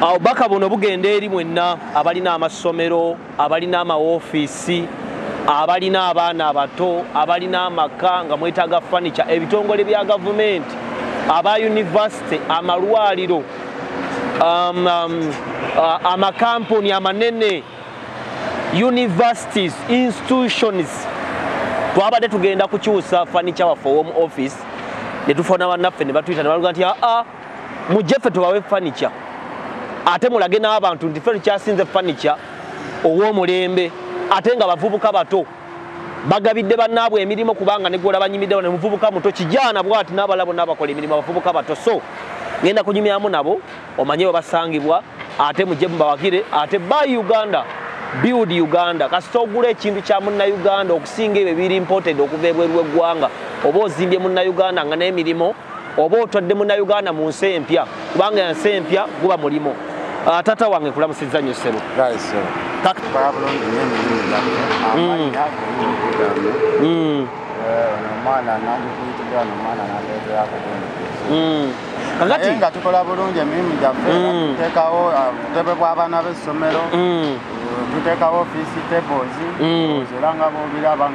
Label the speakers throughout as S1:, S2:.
S1: obubaka buno bugenda eri mwenna abalina amasomero abalina amawoofiisi abalina abaana abato abalina amaka nga mwetaaga fanica ebitongole bya gavumenti aba univesity amalwaliro um, um, amakampuni amanene universities institutions twabadde tugenda kukyusa fanica waffe owom office netufona banaffe nebatuyita nebaluga nti aa ah, ah, mujje ffe tubawe furniture ate mulage n'abantu nti ffe tukyasinze furniture ow'omulembe ate nga bavubuka bato bagabidde bannaabwe emirimu kubanga negwola banyimiddewo ne muvubuka muto kijaana bwati n'abala bonna abakola emirimu abavubuka bato so ngenda kunyumyamu nabo omanye we basangibwa ate mujje mubawagire ate by uganda build uganda kasita ogula ekintu kya munnauganda okusinga ebyo biri imported okuva ebweru w'eggwanga oba ozimbye munnauganda nga n'emirimu oba otwadde munauganda mu nsi empya kubanga nsi empya guba mulimu ah, tata wange kulamusiza nyo sebo kakati
S2: nga tukola bulungi emirimu gyaffe mm. tutekawo uh, butebe bw'abaana b'essomero mm. tutekawo ofiisi tebozi mm. era nga bobiraba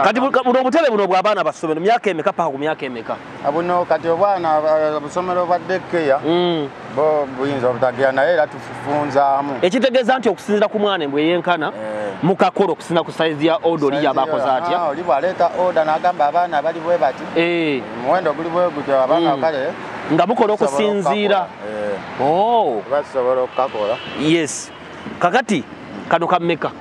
S2: kati
S1: buno obutebe buno bw'abaana bassomero myaka emeka paka ku myaka eme abuno kati
S2: obwana obusomero bwa dekeya hmm. bo buyinza obutagira naye era tufunzaamu ekitegeeza nti okusinzira
S1: ku mwana embwe yenkana eh. mukakolo okusinza ku saizi ya oda oli yabakoze atya ah, oli bwaleeta oda
S2: nagamba abaana bali bwe bati eh. muwendo guli bwe gutyo abaana hmm. kale nga mukola
S1: okusinziira eh. oh.
S2: basobola okukakola yes
S1: kakati kano kammeka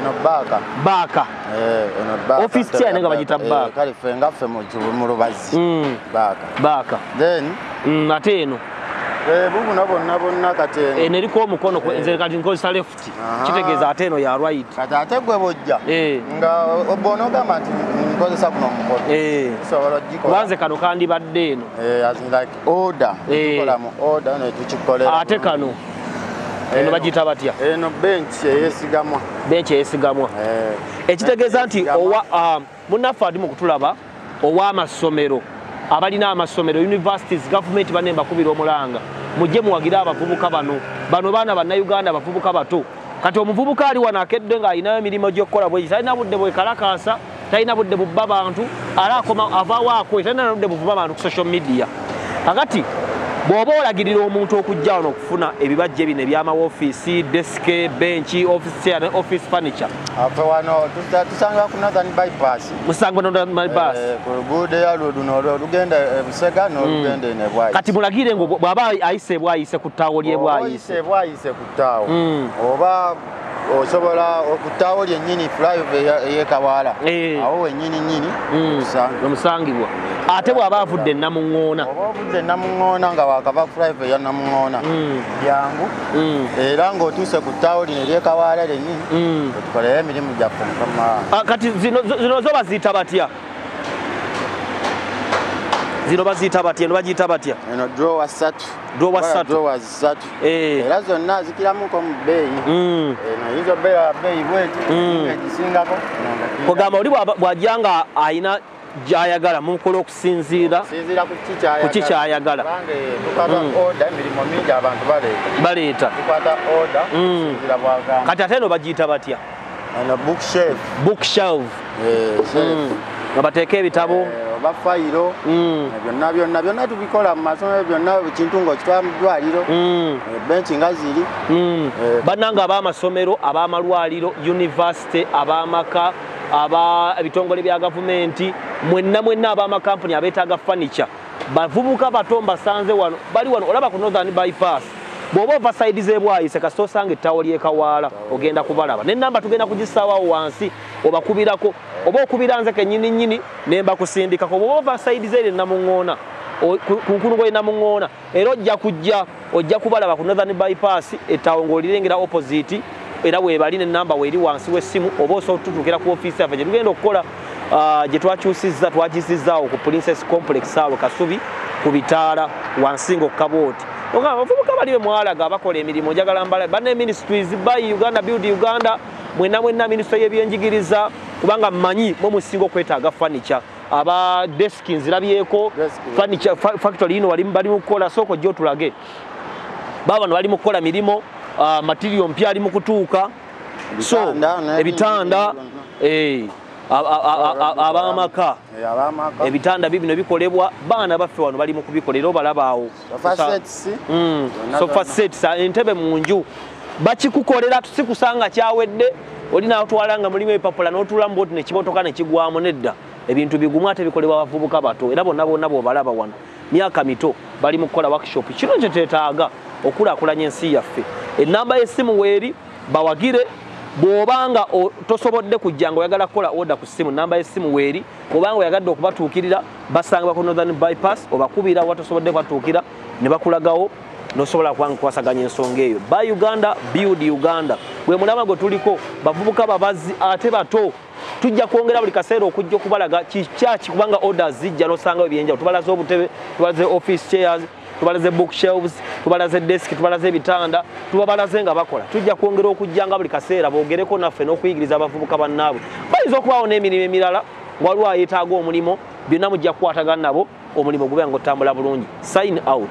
S1: Eno baaka. Baaka. Eh, eno baaka. Office chair nenga bajita eh, baaka. Kale fe nga fe mu
S2: kibu mu lubazi. Mm. Baaka. Baaka. Then mm, ate eno.
S1: Eh, bubu nabo
S2: nabo nakate. Eh, neri ko mukono ko
S1: eh. nze kati nko sa left. Kitegeza ate eno ya right. Kati ate gwe bojja.
S2: Eh. Nga obono kama nti nkozesa kuno mukono. Eh. So wala jiko. Wanze kano kandi badde
S1: eno. Eh, as in like
S2: order eh. tukola mu order ne tukikolera ate kano
S1: eno bagiyita batya eno bench
S2: eyesigamwa bench
S1: eyesigamwa eh. ekitegeeza nti owa ah, munnaffe adi mu kutulaba ow'amasomero abalina amasomero universities gavumenti banne mbakubira omulanga mujje muwagire abavubuka bano bano baana bannayuganda abavubuka bato kati omuvubuka ali wano akedde ng'alinayo emirimu gy'okukola bwegisa alina budde bwekalakaasa talina budde bubba bantu ala akoma avawo akoye talina naludde buvuba bantu ku social media kakati bw'oba olagirira omuntu okujja wano okufuna ebibajje bino ebyama wofiisi desike benki office furniture afe wano
S2: tusanga ku northern bypass musango northern
S1: bypass eh, ku luguudo eyalwo
S2: luno olugenda ebusega eh, n'olugenda hmm. enebwayise kati mulagire ngo
S1: bw'aba ayise ebwayise ku ttaawo ly'ebwayise ebwayise ku ttaawo
S2: hmm. oba osobola okuttaawo lyennyini flyova eyekawaala eh. awo wennyini nyini hmm.
S1: omusangibwa ate bw'aba avudde namuŋoona oba ovudde namuŋoona
S2: nga wakava flyova eya namuŋoona hmm. byangu hmm. era ng'otuuse ku ttaawo lino eryekawaala lyennyini otukoleyo emirimu gyaffe mukama ah, kati zino
S1: zo baziyita batya zino baziyita batya eno bagiyita batya eno
S2: drowa satu drowa satu ssatu eh. era zonna azikiramuko mu bbeeyi hmm. eh, noyinza obeera bbeeyi bweti hmm. egisingako kugamba
S1: oli bwajja nga alina gyayagala mukola okusinziira ku ki kyayagala
S2: baleeta kati ate no bagiyita batya
S1: Ano book
S2: shelf. Book shelf. Eh, mm.
S1: nga bateeka ebitabo eh, oba fayiro
S2: mm. eh, byonna byonna byonna tubikola mu masomero byonna kintu ngaokitwala mu ddwaliro mm. benki nga ziri bannanga
S1: ab'amasomero ab'amalwaliro univesity ab'amaka aba ebitongole bya gavumenti mwenna mwenna ab'amakampuni abeetaaga furniture bavubuka bato mbasanze wano bali wano olaba ku northern bypass bw'oba ova sayidi z'ebwayise kasita osanga ettawo ly'ekawaala ogenda kubalaba nenamba tugenda kugisaawawo wansi obakubirako oba okubira nze kenyini nyini ne mbakusindikako bw'oba ova sayidi z'eri enamuŋŋoona ku nkulugo enamuŋŋoona era ojja kujja Ojja kubalaba ku Northern Bypass ettaawo ng'olirengera opoziti era weebali ne namba weeri wansi w'essimu oba osobola tutuukira ku ofiisi yaffe gye tugenda okukola ah, gye twakyusizza twagisizzaawo ku Princess Complex awo Kasubi ku bitaala wansi ng'okukabooti oga abavubuka bali be mwalaga abakola emirimu njagala mbala banne ministries by Uganda Build Uganda mwenna mwenna minisitule y'ebyenjigiriza kubanga mmanyi mwe musinga okwetaaga fanica aba desk nzirabyeko furniture factory ino wali bali mukola soko jo tulage baba no wali mukola milimo uh, material mpya ali mukutuka so ebitanda eh abamaka ebitanda bibino bikolebwa baana baffe wano bali mukubikolera obalabaawo sofa sets hmm. entebe mu nju bakikukolera tusikusanga kyawedde oli natwala nga mulimu ebipapula notula muboti nekimotoka nekigwamu nedda ebintu bigumu ate bikolebwa bavubuka bato era bonna bonna bobalaba wano myaka mito bali mu kukola workshop kino kye tetaaga okulakulanya ensi yaffe enamba y'essimu weeri bawagire bw'oba nga tosobodde kujja nga oyagala kukola oda ku ssimu namba y'essimu weeri kubanga oyagadde okubatuukirira basangibwa ku northern bypass obakubira watosobodde kubatuukira ne bakulagawo nosobola kubanga kukwasaganya ensonga eyo ba uganda build uganda gwe mulama gwe tuliko bavubuka babazi ate bato tujja kwongera buli kaseera okujja okubalaga kikyaki kubanga orders zijja nosangawo ebyenjawulo tubalaze obutebe tubalaze office chairs tubalaze book shelves tubalaze desk tubalaze ebitanda tubabalaze nga bakola tujja kwongera okujja nga buli kaseera bogereko naffe n'okuyigiriza abavubuka bannaabwe bayinza okubaawo n'emirimu emirala waliwo ayetaaga omulimu byonna mujja kukwatagana nabo omulimu gube nga otambula bulungi sign out